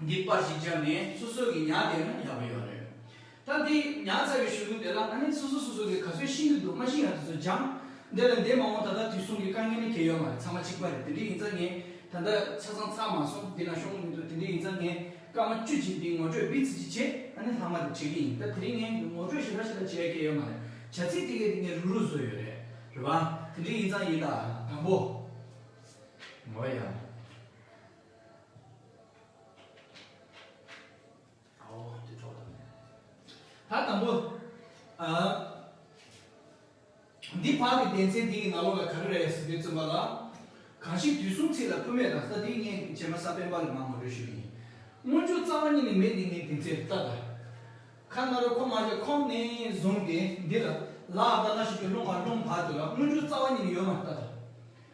འདི་པར་ཞིག་བཅར་ནས་སོ་སོ་གི་ཉག་དེ་ན་ཡག་པོ་ཡོད་རེད། ད་འདི་ཉག་ཚ་བའི་ཞུ་ལུགས་དེ་ལ་ཨ་ནེ་སོ་སོ་སོ་སོ་གི་ག་ཚོད་ཤེས་ཀྱི་འདུག་མ་ཤེས་ཡང་དེ་ཚོ་སྦྱང། འདི་ལ་འདས་མ་འོངས་ད་ལྟ་དུས་གསུམ་གི་དཀའ་ངལ་ནི་དེ་ཡོད་མ་རེད་ཚང་མ་གཅིག་པ་རེད་དེ་འདྲས་ཡིན་ཙང་ངས་ད་ལྟ་ཆ་ཚང་ཚར་མ་སོང་འདི་ན་ཤོང་གི་མི་འདུག་དེ་འདྲས་ཡིན་ཙང་ངས་སྐར་མ་བཅུ་གཅིག་འདི་ངོ་སྤྲོད་སྦིར་ཚིག་གཅིག་བྱེད་ཨ་ནེ་ལྷག་མ་དེ་བྲིས་ཀྱི་ཡིན་ད་དེ་རིང་ངས་ངོ་སྤྲོད་ཞེ་དྲག་ཞེ་དྲག་བྱེད་ཡ་གྱི་ཡོད་མ་རེད་བྱ་ཚིག་དེ་གས་དེ་ངས་རུག་རུག་བཟོས་ཡོད་རེད་རེད་བ། དེ་འདྲས་ཡིན་ཙང་ཡིན་ད་དང་པོ། ངོ་ཡ། ད་དང་པོ། འདི་ཕག་གི་གདན་ཚན་འདི་ཡི་ནང་ལོགས་ལ་ག་རེ་རེད་ཟེར་དུས་བཙུན་པ་ལ། གང་ཞིག་དུས་གསུམ་ཚིག་ལ་ཁུ་མེད་དང་ས་དེའི་ངེས་ངེས་བྱེད་མ་ས་པན་པ་ལས་མང་བ་རེ་ཞུ་ཡིན། སྔོན་བྱུང་རྩ་བ་ཉིད་ནས་མེད་དེ་ངས་དེ་ཚེ་ལྟ་དང། ཁ་ན་རོ་ཁོ་མ་ཤ་ཁོམ་ནས་བཟུང་སྟེ་འདི་ལ་ལ་ཨ་ད་ང་ཞིག་གི་སློང་ཁ་སློང་བར་དུ་ལ་སྔོན་བྱུང་རྩ་བ་ཉིད་ནས་ཡོད་མ་ལྟ་དང།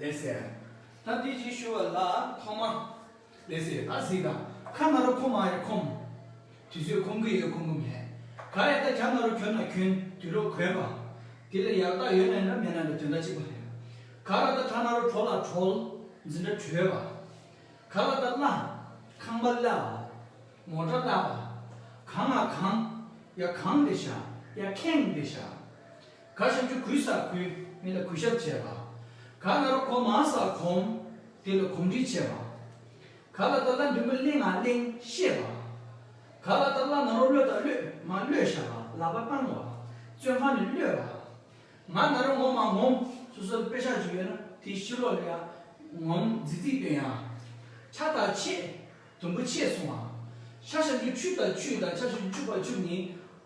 ལེགས་སེ། ད་འདི་ཅིག་ཞུ་བ་ལ་ཐོག་མ། ལེགས་སེ་ད་གཟིགས་དང་ཁ་ང་རོ་ཁོམ་མ་རེད་ཁོམ། དུས་ཚོད་ཁོམ་གི་ཡོད་ཁོམ་གི་མེད། ག་རེད་ད་གྱ་ང་རོ་གྱོན་ན་གྱོན་དུས་རོ་གོན་པ། དེ་ལ་ཡག་རྟགས་ཡོད་ན་འདྲ་མེད་ན་འདྲ་དོན་དག་གཅིག་པ་རེད། ག་ར་ད་གྲ་ང་རོ་གྲོ་ལ་གྲོལ། འཛིན་འདྲ་གྲོལ་བ། ག་ལ་ད་བརླ། ཁང་པ་བརླ་བ། མོ་འདྲ་བརླ་བ། གང་ང་གང། ཡ་གང་འདི་བྱ་ཡ་ཁེངས་འདི་བྱ། གར་ཞབས་ཆུ་གུས་སར་ཁུ། མི་ལ་གུས་ཞབས་བྱེད་པ། གར་ང་རོ་གོང་མ་སར་གོམ། དེ་ལ་གོམ་འདྲིས་བྱེད་པ། གར་ལ་དར་ལ་འབྲུམ་བུ་གླེང་ང་གླེང་ཤེས་པ། གར་ལ་དར་ལ་ང་རོ་གློད་ད་གློད་མ་གློད་ཤ་ལ་ལག་པ་བཏང་བ། བཙོན་ཁང་ནས་གློད་པ། ང་ང་རོ་ངོམ་མ་ངོམ། སོ་སོར་དཔེ་ཆ་ཅིག་ཡོད་ན་དེའི་ཕྱི་ལོགས་ལ་ཡང་ངོམ་རྫིག་རྫིག་སྟོན་ཡང། ཆ་དང་ཆས། དུམ་བུ་ཆས་སོང་བ། ཆ་ཞབས་ཆུ་ཆུ་དང་ཆུས་དང་ཆ་ཞབས་ཆུ་བཅུག་པ་བཅུག་ནི།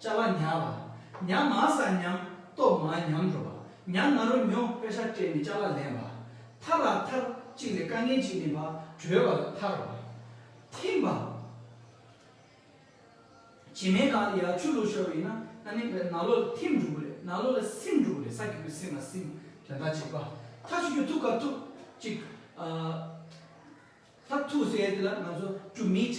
བཅའ་བ་ཉག་བ། ཉག་མ་ས་ཉམས་སྟོབས་མ་ཉམས་འགྲོ་བ། ཉག་མ་རོ་མྱོ་དཔེ་ཧྲ་སྤྲད་མི་བཅའ་བ་ལེན་བ། ཐར་ར་ཐར་གཅིག་ལས་དཀའ་ངལ་ཅིག་མིན་པ་གྲོལ་བ་ལ་ཐར་བ། ཐིམ་པ། བྱེ་མའི་ནང་ལ་ཡར་ཆུ་ལུག་ཤོར་བ་ཡིན་ན་ཨ་ནི་ནཱ་ལོ་ལ་ཐིམ་འགྲོ་གི་རེད་ནཱ་ལོ་ལ་སིམ་འགྲོ་གི་རེད་ས་གི་པོ་སིམ་མ་སིམ་དོན་དག་གཅིག་པ། ཐ་ཆུ་ཆུ་ཐུག་ཁ་ཐུག་གཅིག། ལྷག་ཐུགས་སྲས་དེ་ལ་ང་ཚོ་བཅུ meet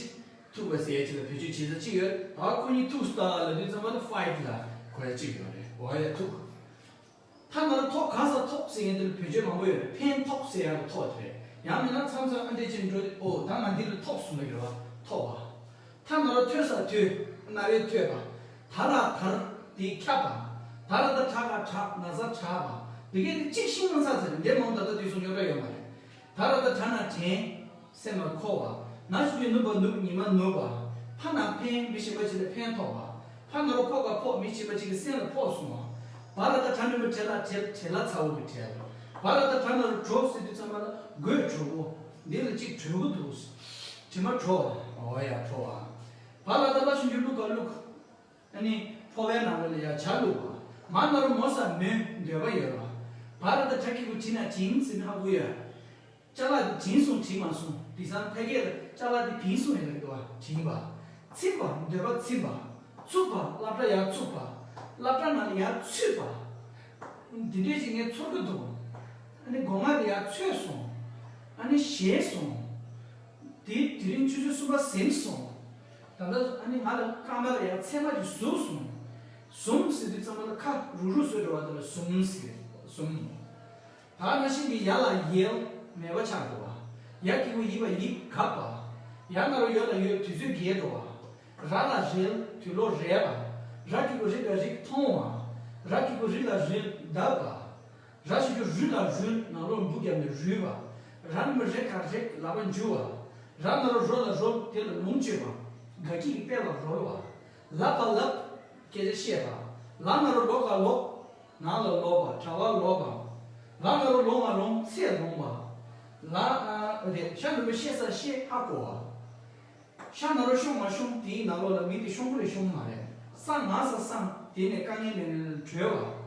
ཐུགས་པ་སྲས་ཅིག་ལ་བེད་སྤྱོད་བྱེད་ས་གཅིག་ཡོད་ད་བར་ཁོ་གཉིས་ཐུགས star ལ་དུས་ཚང་མ་ལ fight ལ་གོ་ཡ་གཅིག་ཡོད་རེད་གོ་ཡ་ཐུགས་ཐ་ན་རུ་ཐོག་གང་སར་ཐོག་སྲས་དེ་ལ་བེད་སྤྱོད་མང་པོ་ཡོད་རེད་ཕན་ཐོགས་སྲས་ཡང་རུ་ཐོག་དེ་རེད་ཡང་མིན་ན་མཚམས་མཚམས་ཨ་འདྲེ་ཅན་འགྲོ་དེ་ཨོ་ད་ང་འདི་རུ་ཐོག་གསུངས་པ་ཡོད་བ་ཐོག་བ་ཐ་ན་རུ་ཐོས་ས་ཐོས་རྣ་བས་ཐོས་པ་ད་ལ་དར་དེ་ཁྱབ་པ་ད་ལ་ད་དྲག་ག་དྲག་ན་ས་དྲག་པ་དེ་གས་དེ་གཅིག་ཤིང་ན་ཚ་ཚ་རེད་འདྲེ་མང་དག་དག་དུས་སུ་རྙོག་དྲ་ཡོད་མ་རེད། ད་ར་ད་དྲ་ན་དྲན། སེམས་ལ་འཁོར་བ། ན་ཆུང་གི་ནུབ་པ་ནུབ་ཉི་མ་ནུབ་བ། ཕ་ན་ཕན་མི་ཤེས་པ་གཅིག་ལ་ཕན་ཐོགས་པ། ཕ་ན་རོ་ཕོག་ཁ་ཕོག་མི་ཤེས་པ་གཅིག་གི་སེམས་ལ་ཕོག་སོང་བ། བ་ར་ད་དྲ་མི་བུ་བྲེལ་ལ་བྲེལ་བྲེལ་ལ་ཚ་བོ་གི་བྲེལ། བ་ར་ད་དྲ་ན་རུ་གྲོ་ཟེར་དུས་ཚང་མ་ལ་དགོས་གྲོ་བོ། འདི་ལ་གཅིག་གྲོལ་བོ་འདུག། དྲི་མ་བྲོ་བ། འོ་ཡ་བྲོ་བ། བ་ར་ད་བླ་ཆུང་གི་བླུག་ཁ་བླུག། ཨ་ནི། ཕོ་བའི་ནང་ལོ་ལ་ཡར་བྱ་ལུག། མ་ནོར་རུ་མོ་ཟ་མོའི་འདོད་པ་ཡོད། བ་ར་ད་བྲ་ཁི་གུ་བྱི་ན་བྱིང་ཟིན་ཧ་གུ་ཡ། བཅའ་ལག་དེ་བྱིང་སོང་བྱིང་མ་སོང་དི་སང་ཕ་གས་ལ་བཅའ་ལག་དེ་བིང་སོང་ཡ་རེད་བ་བྱིང་བ། ཚིམ་པ་འདོད་པ་ཚིམ་བ། ཚུགས་པ་བསླབ་གྲྭ་ཡར་ཚུགས་པ། བསླབ་གྲྭ་ནང་ལ་ཡར་ཚུད་པ། དེ་འདྲས་ཅིག་ངས་ཚོར་གི་འདུག། ཨ་ནི་སྒོ་ང་དེ་ཡར་ཚོད་སོང། ཨ་ནི་བཞེས་སོང། དེ་དེ་རིང་ཆུ་ཚོད་གསུམ་པ་ཟིན་སོང། ད་ལྟ་ཨ་ནི་ང་ལ་དཀའ་ངལ་ཡང་ཚད་མ་གིས་ཟུག་སོང། ཟུམ་ཟེར་དུས་ཚང་མ་ལ་ཁ་རུག་རུག་བཟོས་འགྲོ་བ་དེ་ལ་ཟུམ་ཟེར། ཟུམ། ད་ང་བཞིན་གྱི་ཡ་ལ་ཡལ་མེད་པ་ཆགས་འགྲོ་བ། ཡ་སྐྱིད་པོ་ཡིན་པ་ཡིད་དགའ་བ། ཡ་ང་རོ་ཡོད་ལ་ཡོད་དུས་ཚོད་རྒས་འགྲོ་བ། ར་ལ་རལ་དུས་ལོ་རལ་བ། ར་སྐྱིད་པོ་རིག་ལ་རིག་མཐོང་བ། ར་སྐྱིད་པོ་རིག་ལ་རིག་གདབ་པ། ར་བྱེད་རྒྱུ་རུས་ལ་རུལ་ནང་ལོག་འབུ་བརྒྱབ་ནས་རུལ་བ། ར་མི་རེག་གར་རེག་ལག་པ་འཇུ་བ། ར་མི་རོ་རོ་ལ་རོབ་དེ་ལ་ལུང་བཅོས་པ། སྒ་སྐྱིད་ཀྱི་དཔེ་ལ་རོལ་བ། ལབ་པ་ལབ། སྐད་ཆ་བཤད་པ། ལག་ན་རོ་ལོག་ག་ལོག། ནང་ལ་ལོག་པ་གྲྭ་བ་ལོག་པ། ལག་ན་རོ་ལོང་བ་ལོང་ཚད་ལོང་བ། ལག། ཤ་ནུ་མོ་ཤེས་སར་ཤེས་ཧ་གོ་བ། ཤ་ན་རོ་ཤོང་མ་ཤོང་དེའི་ནང་ལོག་ལ་མིང་དེ་ཤོང་གི་རེད་ཤོང་གི་མ་རེད། སང་ང་ས་སང་དེ་ནས་དཀའ་ངལ་ནས་ནས་ནས་གྲོལ་བ།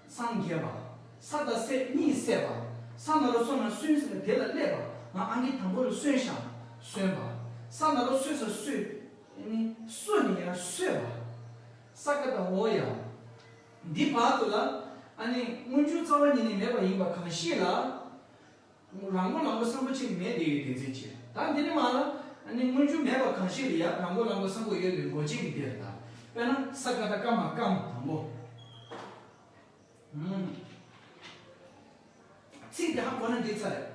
སངས་རྒྱས་པ། ས་དང་སྲས་གཉིས་བསད་པ། ས་ན་རོ་སོ་ན་སོན་ཟེར་ནས་དེ་ལ་སླེབས་པ། ང་ཨང་ཀི་དང་པོ་རུ་སོན་ཤག་གསོན་པ། ས་ན་རོ་སོས་ས་སོས། ནི་སོས་ནི་ཡང་སོས་པ། ས་ཀ་དང་འོ་ཡ། འདི་བར་དུ་ལ། ཨ་ནི་སྔོན་འཇུག་རྩ་བ་ཉིད་ནས་མེད་པ་ཡིན་པ་གང་ཤེས་ལ། རང་མགོ་ལང་པོ་སངས་པོ་ཆེ་ནི་མེད་དེ་ཡོད་དེ་འཛིན་བྱེད་ད་འདི་ནི་མ་ལ། ནི་དངོས་རྒྱུ་མེད་པ་གང་ཞིག་ལ་ཡང་རང་མགོ་ལང་པོ་སངས་པོ་ཡོད་དེ་མགོ་བྱེད་ཀྱི་དེ་ལ་དང་པས་ན་ས་ཀ་ད་སྐམ་མ་སྐམ་དང་པོ། ཚིག་དེ་ཧ་གོ་ན་འདི་ཚ་རེད།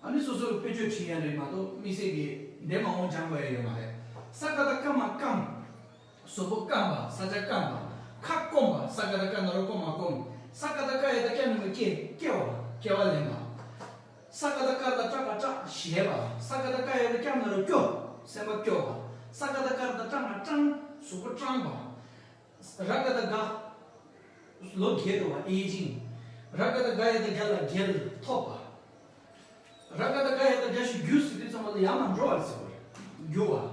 ཨ་ནི་སོ་སོ་རུ་དཔེ་བརྗོད་བྲིས་ཡ་རེད་མ་གཏོགས་དམིགས་བསལ་གྱི་འདས་མ་འོངས་སྦྱང་དགོས་ཡ་ཡོད་མ་རེད། ས་ཀ་ད་སྐམ་མ་སྐམ། སོག་པོ་སྐམ་པ་ས་ཆ་སྐམ་པ། ཁ་སྐོམ་པ་ས་ཀ་ད་ཀ་ན་རོ་སྐོམ་མ་སྐོམ། ས་ཀ་ད་ཀ་ཡ་ད་ཀྱ་ན་མི་སྐྱེ་སྐྱེ་བ་སྐྱེ་བ་ལེན་པ། ས་ཀ་ད་ཀར་ད་སྐྲག་པ་སྐྲག་བཞེས་པ། ས་ཀ་ད་ཀ་ཡ་ད་ཀྱ་ན་རོ་སྐྱོ་སེམས་པ་སྐྱོ་བ། ས་ཀ་ད་ཀར་ད་སྐྲངས་པ་སྐྲངས་སོག་པོ་སྐྲངས་པ། ར་ཀ་ད་ག་ལོ་རྒྱས་འགྲོ་བ་ཨེ་ཅིང། ར་ཀ་ད་ག་ཡ་ད་རྒྱ་ལ་རྒྱལ་ཐོབ་པ། ར་ཀ་ད་ཀ་ཡ་ད་རྒྱ་ཞུ་རྒྱུགས་ཟེར་དུས་ཚང་མ་ལ་ཡང་མ་འགྲོ་བར་ཟེར་བ་རེད། རྒྱུགས་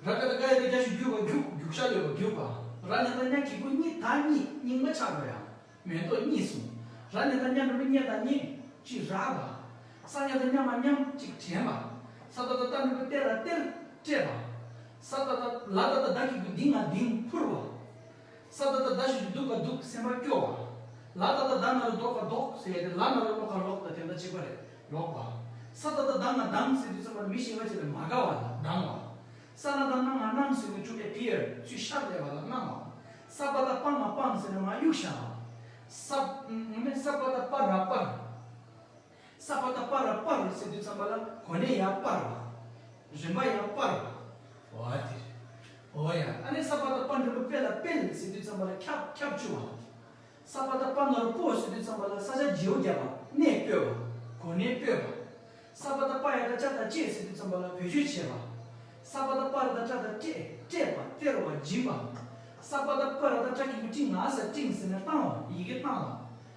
བ། ར་ཀ་ད་ཀ་ཡ་ད་རྒྱ་ཞུ་རྒྱུགས་བ་རྒྱུགས་རྒྱུགས་ཤ་ལོས་བ་རྒྱུགས་བ། ར་ནེ་ད་རྙ་གི་གུ་གཉིས་ད་གཉིས་སྙིང་མ་ཆགས་པ་ཡང་མེད་དོ་གཉིས་གསུངས། ར་ནེ་ད་རྙ་འགྲོ་མི་རྙེད་ད་རྙེད་ཅིག་ར་བ། ས་རྙ་ད་རྙ་མ་རྙམ་ཅིག་དྲན་བ། ས་ད་ད་རྟ་འགྲོ་གི་རྟེ་ར་རྟེར་སྤྲད་བ། ས་ད་ད་ལ་ད་ད་ད་གི་གུ་ལྡིང་ང་ལྡིང་འཕུར་བ། ས་ད་ད་ཟླ་ཞིག་ཏུ་སྡུག་ག་སྡུག་སེམས་པར་སྐྱོ་བ། ལ་ད་ད་ད་ན་རུ་ལྡོག་ག་ལྡོག་ཟེར་ཡས་ཏེ་ལ་ན་རུ་ལོག་ག་ལོག་ད་དེ་འདྲ་གཅིག་པ་རེད་ལོག་པ། ས་ད་ད་ད་ན་དང་ཟེར་དུས་ཚང་མར་མི་གཞན་པ་བྱས་པའི་མ་དགའ་བ་ལ་སྡང་བ། ས་ན་ད་ན་མ་སྣང་ཟེར་དུས་ཐུགས་ཁྲལ fear ཚུལ་ཤར་བསྡད་པ་ལ་སྣང་བ། ས་པ་ད་པ་མ་སྤངས་ཟེར་ན་མ་གཡུགས་བཞག་པ། ས། ས་པ་ད་པ་ར་པར། ས་པ་ཏཱ་པ་ར་པར་བ་སེ་དུས་ཙམ་པ་ལ་གོ་ནས་ཡ་པར་བ། རིམ་པ་ཡ་པར་བ། བ་དེ། བོ་ཡ་ཨ་ནས་ས་པ་ཏཱ་པ་འབྲུ་པོ་པེ་ལ་པེལ་སེ་དུས་ཙམ་པ་ལ་ཁྱབ་ཁྱབ་ཆུ་བ། ས་པ་ཏཱ་པ་ནོར་པོ་སེ་དུས་ཙམ་པ་ལ་ས་ཆ་རྗེའུ་བརྒྱ་བ་ནས་སྤོས་བ། གོ་ནས་སྤོས་བ། ས་པ་ཏཱ་པ་ཡ་ཏཱ་ཅ་ད་ཅེ་སེ་དུས་ཙམ་པ་ལ་བེ་ཆུ་བྱེ་བ། ས་པ་ཏཱ་པ་ར་ད་ཏྲ་ད་ཏྲེ་ཏྲེ་བ་སྟེར་བ་སྦྱིན་བ། ས་པ་ཏཱ་པ་ར་ད་ཏྲ་ཀིང་པོ་ཀྲིང་ང་ས་ཀྲིང་སེ་ནས་བཏང་བ་ཡི་གེ་བཏང་བ།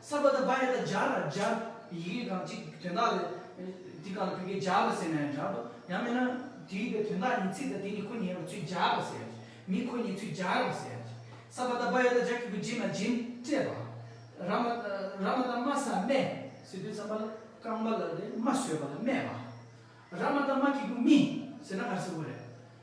སརྦ་དང་བྷ་ཡ་དང་ཇཱ་ར་ཇཱ་ཡི་གེ་གང་གཅིག་དོན་དག་ལས། དེ་གང་ལ་བོད་སྐད་ཇཱ་བ་ཟེར་ན་ཡང་འདྲ་འདུག་ཡང་མིན་ན། དེའི་པའི་དོན་དག་ཉིན་ཚིག་དང་དེ་ཉིད་ཁོ་ཉིད་ཡིན་པ་ཚུལ་ཇཱ་བ་ཟེར། མི་ཁོ་ཉིད་ཚུལ་ཇཱ་ར་བ་ཟེར། སརྦ་དང་བྷ་ཡ་དང་ཇཱ་གི་གུ་རྗེས་ན་རྗེན་སྤྲས་པ། ར་མ། ར་མ་དང་མ་ས་སྨད། ཟེར་དུས་ས་མ་ལ་རྐང་པ་ལ་རེ་མ་བཟོས་པ་ལ་སྨད་པ། ར་མ་དང་མ་གི་གུ་མི། ཟེར་ན་གར་སེར་བོ་རེད།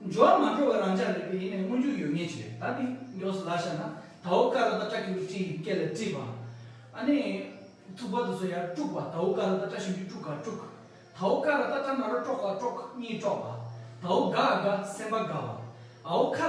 འབྱོར་བ་མ་འབྱོར་བ་རང་ཅག་རེ་རེ་ཡིན་ནས་མངོན་འགྱུར་ཡོད་ངེས་ཅི་རེད་ད་ནི་མགྱོགས་སུ་ལ་ཤར་ན་དྭོགས་དཀའ་རོ་ད་བཀྲ་ཁྱེའུ་བཀྲིས་ཡི་སྐད་ལ་བཀྲིས་པ་ཨ་ནི་ཐུག་པ་དུ་སོ་ཡར་དཀྲུགས་པ་དྭོགས་དཀའ་རོ་ད་བཀྲ་ཤིན་ཏུ་དཀྲུགས་དཀའ་དཀྲུགས། དྭོགས་དཀའ་རོ་ད་བཀྲ་མ་རོ་དཀྲོགས་དཀའ་དཀྲོགས་གཉིས་དཀྲོགས་པ་དྭོགས་དགའ་དགའ་སེམས་པ་དགའ་བ་ཨའོ་ཁ།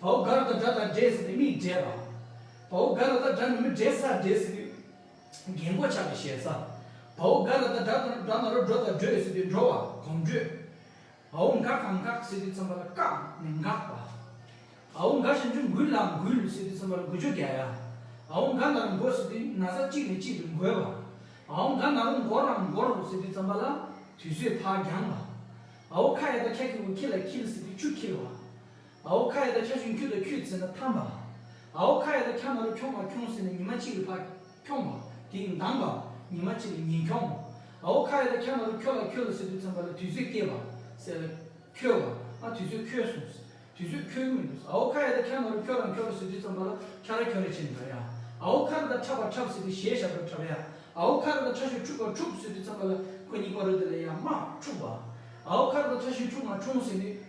བའོ་དགའ་རོ་དང་སྒྲ་དང་སྒྲའི་ཟེར་ནས་མིག་བགྲད་པ། བའོ་དགའ་རོ་དང་སྒྲ་ནི་མི་བགྲད་སར་བགྲད་ཟེར་ནས་རྒྱན་གོ་ཆ་ལ་ཞལ་ས། བའོ་དགའ་རོ་དང་སྒྲ་དང་སྒྲ་ན་རོ་འགྲོ་དང་བགྲོད་ཟེར་ཏེ་འགྲོ་བ་གོམ་བགྲོད། བའོ་འགག་དང་འགག་ཟེར་ཏེ་ཚོམ་བ་ལ་བཀག་ནས་འགག་པ། བའོ་འགག་བྱང་ཆུབ་འགུལ་ལ་འགུལ་ཟེར་ཏེ་ཚོམ་བ་ལ་འགུལ་བཅོ་བརྒྱད་ཡ། བའོ་འགག་ན་རོ་འགོ་ཟེར་ཏེ་ན་བཟའ་གཅིག་ནས་གཅིག་ཏུ་འགོས་པ། བའོ་འགག་ན་རོ་འགོར་རམ་འགོར་ཟེར་ཏེ་ཚོམ་བ་ལ་དུས་ཚོད་ཕག་རྒྱང་པ། བའོ་ཁ་ཡ་དང་ཁྱ་ཁྱི་བོ་ཁྱི་ལ་འཁྱིལ་ཟེར་ཏེ་ཆུ་འཁྱིལ་བ། ཨའོ་ཁ་ཡེ་ད་ཁྱ་ཆུང་ཁྱུ་དང་ཁྱུད་ཟེར་ན་ཐམ་པ། ཨའོ་ཁ་ཡེ་ད་ཁྱ་ནོར་ཁྱོང་བ་ཁྱོང་ཟེར་ན་ཉི་མ་གཅིག་ལ་ཕ་ཁྱོང་བ་དེ་མདང་པ། ཉི་མ་གཅིག་ལ་ཉིན་ཁྱོང་བ། ཨའོ་ཁ་ཡེ་ད་ཁྱ་ནོར་ཁྱོ་ལ་ཁྱོ་ལ་ཟེར་དུས་ཚང་པ་ལ་དུས་ཚོད་སྐྱེལ་བ་ཟེར་ལ། ཁྱོལ་བ། ཨ་དུས་ཚོད་ཁྱོལ་སོང། དུས་ཚོད་ཁྱོལ་གི་མི་འདུག་ཨའོ་ཁ་ཡེ་ད་ཁྱ་ནོར་ཁྱོ་རང་ཁྱོ་ར་ཟེར་དུས་ཚང་པ་ལ་ཁྱ་ར་ཁྱོ་ར་བྱས་ནས་འདྲ་ཡ། ཨའོ་ཁ་ར་ད་ཁྲབ་པ་ཁྲབ་ཟེར་དུས་གཞས་ཞབས་ཁྲབ་ཁྲབ་ཡ། ཨའོ་ཁ་ར་ད་ཁྲ་ཞོ་ཁྲུག་པ་ཁྲུག་ཟེར་དུས་ཚང་པ་ལ་ཁོ་གཉིས་པ་རོལ་དེ་ལ་ཡ་མ་ཁྲུག་བ། ཨའོ་ཁ་ར་ད་ཁྲ་ཞོ་ཁྲུག་མ་ཁྲུང་ཟེར་དུས།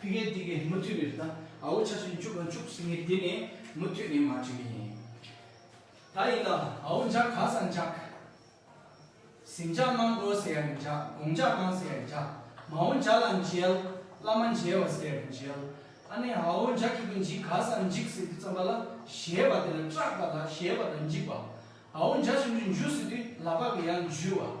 ཕི་གེ་ཏི་གེ་མུ་མཐུད་ནས་རེད་ད་ཨ་བོ་ཆ་ཆུན་བཅུག་ང་བཅུག་ཟེར་ངེས་དེ་ནས་མུ་མཐུད་ནས་མ་བཅོས་ཀྱི་ཡིན། ད་ཡིན་ད་ཨ་བོ་འཇག་ག་ས་འཇག། གཟིམ་འཇག་གནམ་སྒོ་ཟེར་ཡ་རེད་འཇག་དགོང་འཇག་གནང་ཟེར་ཡ་རེད་འཇག་མ་འོ་འཇག་ལ་མཇལ། བླ་མ་མཇལ་བ་ཟེར་ཡ་རེད་མཇལ། ཨ་ནེ་ཨ་བོ་འཇག་གི་གུ་འཇིག་ག་ས་འཇིག་ཟེར་དུས་རྩམ་པ་ལ་གཞལ་བ་དེ་ལ་སྐྲག་པ་ལ་གཞལ་བ་དང་འཇིག་པ། ཨ་བོ་འཇག་ཆུ་འདྲུད་འཇུ་ཟེར་དུས་ལ་ཕག་གི་ཡང་འཇུས་བ།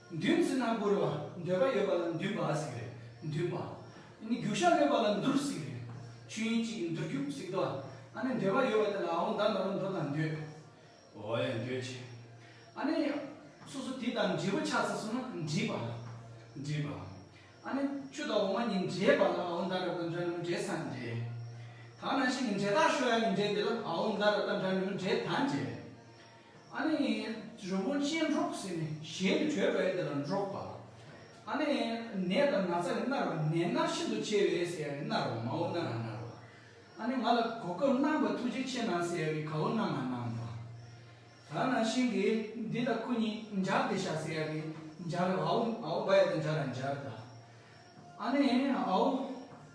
འདུན་བརྩི་ན་བཀུར་བ་འདོད་པ་ཡོད་པ་ལ་འདུན་པ་ཟིག་རེད་འདུན་པ། རྒྱུ་ཞགས་གློད་པ་ལ་འདུར་ཟིག་རེད། ཆོས་ཉིད་ཅིག་གི་འདུར་རྒྱུ་ཟིག་ཏུ་ཨ་ནི་འདོད་པ་ཡོད་པ་དེ་ལ་འོང་བདག་མེད་པར་འདོད་དང་འདོད། འོ་ཡ་འདོད་ཅིག། ཨ་ནི། སོ་སོ་དེ་དང་འབྲས་བུ་ཆགས་ཚེ་སོང་ན་འདྲིས་པ། འདྲིས་པ། ཨ་ནི་ཆུ་དང་འོ་མ་གཉིས་འདྲེས་པ་ལ་འོང་བདག་རབ་དང་འདྲ་ནུབ་འདྲེས་དང་འདྲེས། དག་སྣང་ཞིག་གི་འབྲས་རྟགས་ཤོ་ཡ་གཉིས་འདྲེས་དེ་ལ་འོང་བདག་རབ་དང་འདྲ་ནུབ་འདྲེས་དང་འདྲེས། ཨ་ནི་རི་བོ་ཅན་འབྲོག་ཟེར་ནས་གཞན་དུ་བྲོས་པས་དེ་ལ་འབྲོག་པ། ཨ་ནི་ནས་དང་ན་ཚ་ནི་མནར་བ་ནས་མནར་ཤིན་ཏུ་ཆེ་བས་ཟེར་ཡང་ནི་མནར་བ་མའོ་མནར་ཡང་མནར་བ། ཨ་ནི་ང་ལ་གོ་སྐབས་གནང་བར་ཐུགས་རྗེ་ཆེ་གནང་ཟེར་ཡང་ནི་གའོ་གནང་ཡང་གནང་བ། ད་ནང་བཞིན་གྱི་འདི་དང་ཁོ་གཉིས་སྦྱར་ཏེ་བཞག་ཟེར་ཡང་ནི་སྦྱར་རོ་ཨའོ་ཨའོ་བ་ཡ་དང་སྦྱར་ཡང་སྦྱར་ད། ཨ་ནི་ཨའོ།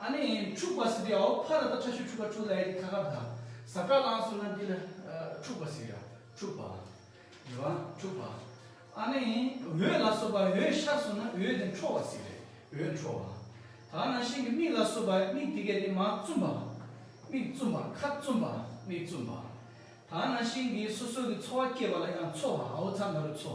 ཨ་ནི་འཁྲུག་པ་སི་ཏེའོ་ཕ་ར་ད་ཁྲ་ཤུ་ཁྲུ་ཁ་ཁྲུ་ལ་ཡ་ཏི་ཁ་ཁ་བ་ད་ཟ་བྲ་ལང་སུ་ན་འདི་ལ་འཁྲུག་པ་སི་ཡ་འཁྲུག་པ་ཡ་བ་འཁྲུག་པ་ཨ་ནི་འོད་ལ་སོ་བ་འོད་ཤར་སུ་ན་འོད་དེ་འཕྲོ་བ་སི་རེད་འོད་འཕྲོ་བ་ད་ན་ཤིང་གི་མིག་ལ་སོ་བ་མིག་དེ་གས་ཏེ་མ་བཙུམ་པ་མིག་བཙུམ་པ་ཁ་བཙུམ་པ་མིག་བཙུམ་པ་ད་ན་ཤིང་གི་སོ་སོ་གི་འཚོ་བ་སྐྱེ་བ་ལ་ཡང་འཚོ་བ་ཨའོ་ཚ་ན་རུ་འཚོ།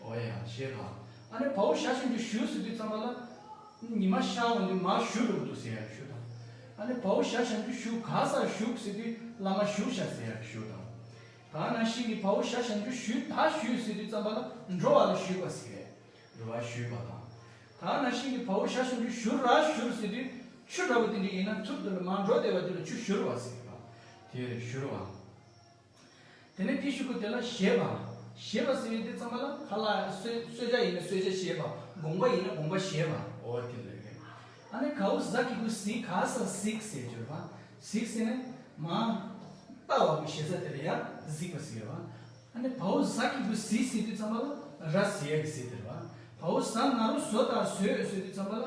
བོ་ཡང་བྱས་པ། ཨ་ནེ་བོའུ་ཞྭ་ཞིག་འདི་ཞུས་ཟེར་དུས་ཙམ་པ་ལ། ཉི་མ་ཤར་བ་འདི་མ་ཞུས་རུང་དུ་ཟེར་ཡག་ཞུ་དང། ཨ་ནེ་བོའུ་ཞྭ་ཞིག་འདི་ཞུ་ག་སར་བཞུགས་ཟེར་དུས་བླ་མ་བཞུགས་ཤག་ཟེར་ཡག་ཞུ་དང། གང་ན་ཤིང་གི་བོའུ་ཞྭ་ཞིག་འདི་ཞུས་ད་ཞུས་ཟེར་དུས་ཙམ་པ་ལ་འགྲོ་བ་ལ་ཞུས་པ་ཟེར། འགྲོ་བ་ཞུས་པ་དང། གང་ན་ཤིང་གི་བོའུ་ཞྭ་ཞིག་འདི་ཞུ་ར་ཞུར་ཟེར་དུས་ཆུ་འདྲ་བོ་དེ་འདྲ་ཡིན་ན་ཐུར་དུ་ལ་མ་འགྲོ་བདེ་བ་དེ་ལ་ཆུ་བཞུར་བ་ཟེར། དེར་བཞུར་བ། དེ་ནས་ཏི་ཤུ་ཀུ་དེ་ལ་བཞེས་པ། བཞེས་པ་ཟེར་བའི་དེ་ཙམ་པ་ལ་ཁ་ལ་གསོད་བྱ་ཡིན་ན་གསོད་བྱ་བཞེས་པ་དགོངས་པ་ཡིན་ན་དགོངས་པ་བཞེས་པ། འོ་དེ་ལས་ཀྱི། ཨ་ནི་གའུ་ཟ་ཀི་ཀུ་ཟི་ག་ས་ཟིག་ཟེར་བརྗོད་པ། ཟིག་ཟེར་ནས། མ། ལྟ་བ་པོ་བཞེས་ས་དེ་ལ་ཡང་ཟིག་པ་ཟེར་བ། ཨ་ནི་བའུ་ཟ་ཀི་ཀུ་ཟི་ཟེར་དུས་ཙམ་པ་ལ་ར་ཟེ་ཡ་ཀི་ཟེར་ཟེར་བ། བའུ་ཟ་ན་རུ་ཟོ་དང་ཟོས་ཟེར་དུས་ཙམ་པ་ལ།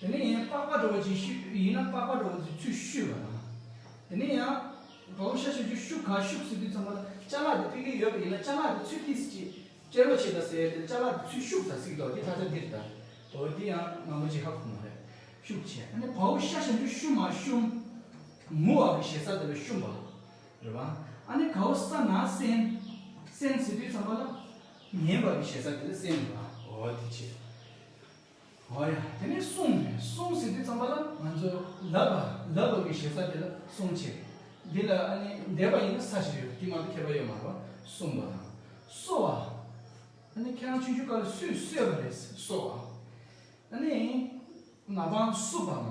དེ་ནས་ཡང་པགས་པ་འགྲོ་བ་ཅན་ཤུ་ཡིན་ན་པགས་པ་འགྲོ་བ་ཚོའི་ཚུལ་བཤུས་པ་དང། དེ་ནས་ཡང་གའུ་ཤ་ཤ་ཆུ་ཤུག་ག་ཤུག་ཟེར་དུས་ཚང་མ་ལ་ལྕ་ལག་དེ་དཔེ་གལ་ཡོད་པ་ཡིན་ན་ལྕ་ལག་དེ་ཚུལ་ཐིགས་ཅེས་ཅེར་བ་བྱེད་ད་ཟེར་དེ་ལྕ་ལག་དེ་ཚུལ་ཤུག་ད་ཟིག་དོ་དེ་ད་ཆ་འདིར་ད་དོ་དེ་ཡང་མ་མོ་ཅི་ཧ་གོ་མ་རེད་ཤུག་ཆེ་ཨ་ནི་གའུ་ཤ་ཤ་ཆུ་ཤུག་མ་བཤུམ། མུ་བ་གི་ཞེ་ས་དེ་ལ་བཤུམ་པ་རེད་བ། ཨ་ནི་གའུ་ས་ན་སྲན། སྲན་ཟེར་དུས་ཚང་མ་ལ་ངན་བ་གི་ཞེ་ས་དེ་ལ་སྲན་རེད་བ་འོ་དེ་ཕྱིར། འོ་ཡ་དེ་ནས་སོང་ནས་སོང་ཟིག་དེ་ཙམ་པ་ལ་ང་ཚོས་ལབ་པ་ལབ་ལོག་གི་ཞེ་ས་དེ་ལ་སོང་ཆེ། འདི་ལ་ཨ་ནི་འདས་པ་ཡིན་ན་ས་ཞིག་རེད་དེ་མ་གཏོགས་ཁྱད་པར་ཡོད་མ་རེད་བ་སོང་བ་དང་སོ་བ། ཨ་ནི་ཁྱེད་རང་ཆུང་ཆུང་སྐབས་ལ་སུས་གསོས་པ་རེད་སོ་བ། ཨ་ནི་ང་པང་བསུ་བ་མ་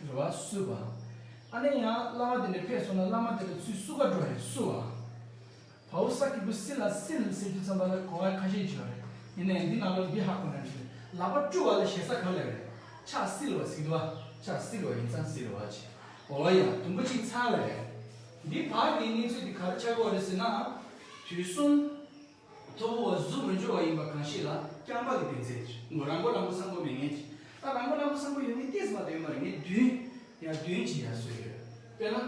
རེད་བ་སུས་བ། ཨ་ནི་ཡང་བླ་མ་དེ་འདྲ་ཕེབས་སོང་ན་བླ་མ་དེ་ལ་ཚུལ་བསུ་ག་འགྲོ་རེད་སུ་བ། བ་ཨུ་ས་ཀི་པོ་སི་ལ་སི་ལི་ཟེར་རྒྱུ་ཙམ་པ་ལ་གོ་བ་ཁ་ཤས་བྱོས་རེད་ཡིན་ནའི་འདི་ནང་ལོ་འདི་ཧ་གོ་ན་འགྲིག་ལག་པ་བཀྲུ་བ་ལ་ཞེ་ས་ག་ལ་རེད་ཆགས་སི་ལི་བ་སི་ལི་བ་ཆགས་སི་ལི་བ་ཡིན་ཙང་སི་ལི་བ་ཅེས་གོ་བ་ཡང་དུམ་བུ་གཅིག་ཚར་བ་རེད། འདི་བར་གྱི་གནས་ཚུལ་འདི་ག་རེ་ཆགས་གོ་རེད་ཟེར་ན། དུས་གསུམ་མཐོ་པོ་བ་གཟུགས་མི་འབྱོར་བ་ཡིན་པ་གང་ཤེས་ལ་རྐྱང་པ་གི་བདེན་ཚད་ཀྱི་ངོ་རང་མགོ་རང་མགོ་སངས་པོ་མེད་ངེས་ཀྱི་ད་རང་མགོ་རང་མགོ་སངས་པོ་ཡོད་ངེས་ཏེ་ཟེར་བ་དོན་མ་རེད་ངས་བདུན་ཡ་བདུན་གྱིས་ཡ་བཟོས་ཡོད་དཔེར་ན།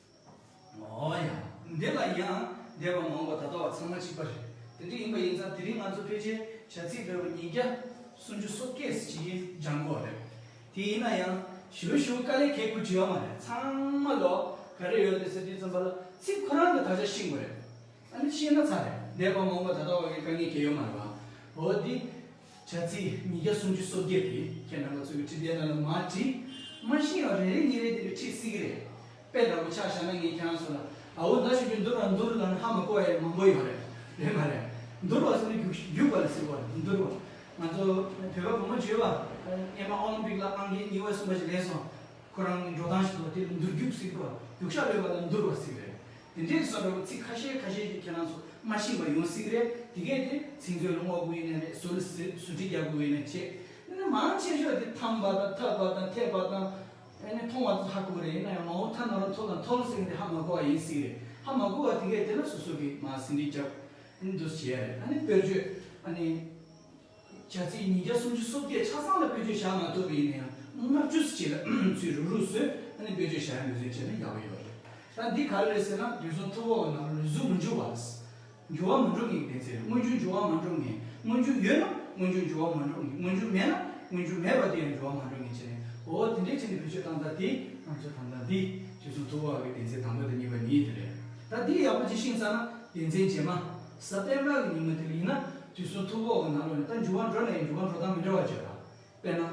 ཨོ་ཡ། འདི་ལ་ཡིན་ཨང། འདས་པའི་མང་བོ་ད་ལྟ་བ་ཚང་མ་གཅིག་པ་རེད། དེ་འདྲ་ཡིན་པ་ཡིན་ཙང་དེ་རིང་ང་ཚོ་ཕལ་ཆེར་བྱ་ཚིག་བེར་བ་ཉིས་བརྒྱ། སུམ་ཅུ་སོ་སྐད་ཟེར་གྱི་ཡིན་སྦྱང་དགོས་རེད། དེ་ཡིན་ན་ཡང། ཞི་བ་ཞུ་དཀའ་ལས་ཁེགས་པོ་བྲི་ཡ་མ་རེད་ཚང་མ་ལོ། ག་རེ་ཡོད་དེ་ཟེར་དུས་རྩོམ་པ་ལ་ཚིག་ཁོ་རང་གི་དག་ཆ་ཤེས་དགོས་རེད། ཨ་ནི་ཤེས་ན་ཚར་རེད་འདས་པ་མང་བོ་ད་ལྟ་བ་གི་དཀའ་ངལ་གྱི་ཡོད་མ་རེད་བ། འོ་དེ། བྱ་ཚིག་ཉིས་བརྒྱ་སུམ་ཅུ་སོ་བརྒྱད་དེ་ཁྱེད་རྣམ་པ་ཚོས་ཀྱི་ཁྲིད་དེ་རྣམས་ལ་མ་བྲིས། མ་ཤེས་ཡང་རེ་རེ་གཉིས་རེ་དེ་ལས་ཁྲིད་སྲིད་ཀྱི་རེད། དཔེ་ལྟ་བུ་ཆགས་ཤར་ན་ངས་ཁྱེད་རང་ཚོ་ལ། ཨ་འོ་ད་ཞུ་རྒྱུ་འདུར་བ་འདུར་ལ་ནི་ཧ་མ་གོ་བ་ཡང་མང་པོ་ཡོད་རེད། རེད་མ་རེད། འདུར་བ་ཚོ་ནི་རྒྱུགས་རྒྱུགས་པ་ལ་ཟེར་བ་རེད་འདུར་བ། ང་ཚོ་བོད་པ་བུ་མོ་བརྗོད་པ། ཨེ་མ་ཨོ་ལིམ་པིག་ལ་ཨང་ཀི་ཉི་བ་གསུམ་པ་ཞིག་ལེན་སོང། ཁོ་རང་གི་འགྲོ་སྟངས་ཞིག་ཏུ་དེ་ལ་འདུར་རྒྱུགས་ཟེར་གི་རེད། རྒྱུགས་ཤག་ལོས་པ་ལ་འདུར་བ་ཟེར་གི་རེད། དེ་འདྲའི་གསོན་པོའི་ཚིག་ཁ་ཤས་ཁ་ཤས་ཀྱིས་ཁྱེད་རང་ཚོ་སྨྲ་བཞིན་པ་ཡོང་སྲིད་རེད་དེ་གས་དེ་ཚིག་མཛོད་ལ་བསྔོག་དགོས་ཡེ་ནས་རེད་ཟུར་ཟུར་བྲིས་རྒྱག་དགོས་ཡེ་ནས་བྱས་ཨེ་ན་མང་ཆེ་ཤོས་དེ་འཐམ་པ་དང་འཐབ་པ་དང་འཐད་པ་དང་ཨེ་ནས་མཐོང་བ་དེ་ཚོ་ཧ་གོ་རེད་ཡིན་ན་ཡང་མ་འོངས་ཐ་ན་རུ་མཐོ་དང་མཐོ་རུ་སེང་དེ་ཧ་མ་གོ་བ་ཡིན་སྲིད་རེད་ཧ་མ་གོ་བ་དེ་གས་དེ་ན་སོ་སོ་གིས་མ་ཟིན་བྲིས་རྒྱག་ཨེ་ན་འདུག་བྱས་ཡ་རེད་ཨ་ནི་དཔེར་བརྗོད་ཨ་ནི། བྱ་ཚིག་ཉིས་བརྒྱ་སུམ་ཅུ་སོ་བརྒྱད་ཆ་ཚང་ལ་བེད་སྤྱོད་བྱ་མ་ཐུབ་པ་ཡིན་ན་ཡང་ལྔ་བཅུ་སུ་གཅིག་ལ་ཚུད་རུག་རུག་སུ་ཨ་ནི་བེད་སྤྱོད་བྱ་ཡ་མི་བཟོད་ཅེ་ན་ཡག་པོ་ཡོད་རེད་ད་འདི་ག་རེ་རེད་ཟེར་ན་དུས་ཚོད་ཐུབ་བོ་ན་ལུས་གཟུགས་མི་འཇུ་བ་རེད་འཇུ་བ་མི་འགྲོ་གི་བེད་ཚེ་རེད་དངོས་བྱུང་འཇུ་བ་མ་འགྲོ་ངེས་དངོས་བྱུང་ཡོད་ན་དངོས་བྱུང་འཇུ་བ་མ་འགྲོ་ངེས་དངོས་བྱུང་མེད་ན་དངོས་བྱུང་མེད་པ་དེ་ཡང་འཇུ་བ་མ་འགྲོ་ངེས་བྱས་ནས་འོ་དེ་འདྲའི་ཆེད་ནས་བེད་སྤྱོད་བཏང་ད་དེ་ང་ཚོས་དང་ད་འདི་དུས་ཚོད་ཐུབ་བོ་གི་བེད་ཚེ་དང་པོ་དང་གཉིས་པ་ཉིད་དེ་རེད་ད་འདི་ཡག་པོ་ཅི་ཤིང་ས་ན་བེད་ཚེ་རྗེས་མ་ཟབ་པད་མ་གི་ཉིན་མོ་དེ་ལ་ཡིན་ན། དུས་གསུམ་ཐུགས་འགོག་གི་ནང་ལོགས་ནས་ད་འགྱུར་བ་འགྲོ་ནས་འགྱུར་བ་འགྲོ་སྟངས་མི་འདྲ་བ་བརྗོད་ལ། དཔེར་ན།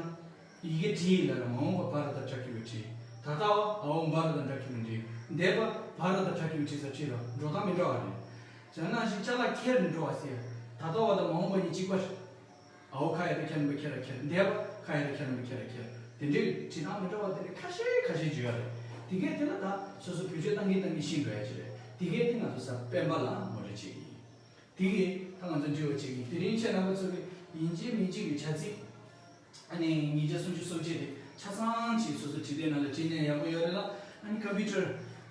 ཡི་གེ་བྲི་ཡི་ལ་ལ་མ་འོངས་པ་བ་ར་དང་བྲ་ཁི་བའི་བྲི། ད་ལྟ་བ་ཨ་འོང་བ་ར་དང་བྲ་ཁི་བའི་འབྲི། འདས་པ་བ་ར་དང་བྲ་ཁི་བའི་བྲི་ས་བྲི་ལ་འགྲོ་སྟངས་མི་འདྲ་བ་རེད། ཇག་ནག་བཞིན་ལྕགས་ལ་ཁྱེར་ནས་འགྲོ་བ་སེ་ཡ། ད་ལྟ་བ་དང་མ་འོངས་པ་གཉིས་གཅིག་པ་རེད། ཨ་འོ་ཁ་ཡ་ར་ཁྱེར་ནམ་པ་ཁྱེར་ར་ཁྱེར་འདས་པ་ཁ་ཡ་ར་ཁྱེར་ནམ་པ་ཁྱེར་ར་ཁྱེར། དེ་འདྲའི་བྲི་སྟངས་མི་འདྲ་བ་དེ་འདྲ་ཁ་ཤས་ཁ་ཤས་བརྗོད་ཡ་རེད། དེ་གས་དེ་ལ་ད་སོ་སོ་བེད་སྤྱོད་གཏང་གིན་གཏང་གིན་ཤི་འགྲོ་ཡ་ཅི་རེད། དེ་གས་དེ་ང་ཚོ་ས་པན་པ་ལ་ངོ་རེ་བྱེད་ཀྱི་ཡིན། དེ་གའི་ཐ་ང་ཚོ་འདྲི་བ་བྱེད་ཀྱི་དེ་རིང་ཁྱེད་རྣམ་པ་ཚོ་གི་ཡིན་གཅིག་མིན་གཅིག་གི་བྱ་ཚིག་ཨ་ནི་ཉིས་བརྒྱ་སུམ་ཅུ་སོ་བརྒྱད་དེ་ཆ་ཚང་གཅིག་སོ་སོ་བྲིས་པའི་ནང་ལ་བྲིས་ན་ཡག་པོ་ཡོད་རེད་ལ་ཨ་ནི Computer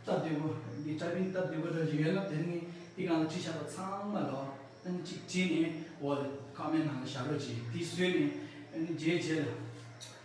སྟབས་བདེ་པོ་འདི Typing སྟབས་བདེ་པོ་འདྲ་ཞིག་ཡོད་ན་དེ་ནི་དེ་གང་ལ་བྲིས་ཆགས་པ་ཚང་མ་ལ་ཨ་ནི་གཅིག་བྲིས་ནས་འོག་ལ Comment ནང་ལ་བཞག་རོགས་གྱིས་དེ་བཟོས་ནས་ཨ་ནི་རྗེས་བྱས་ལ།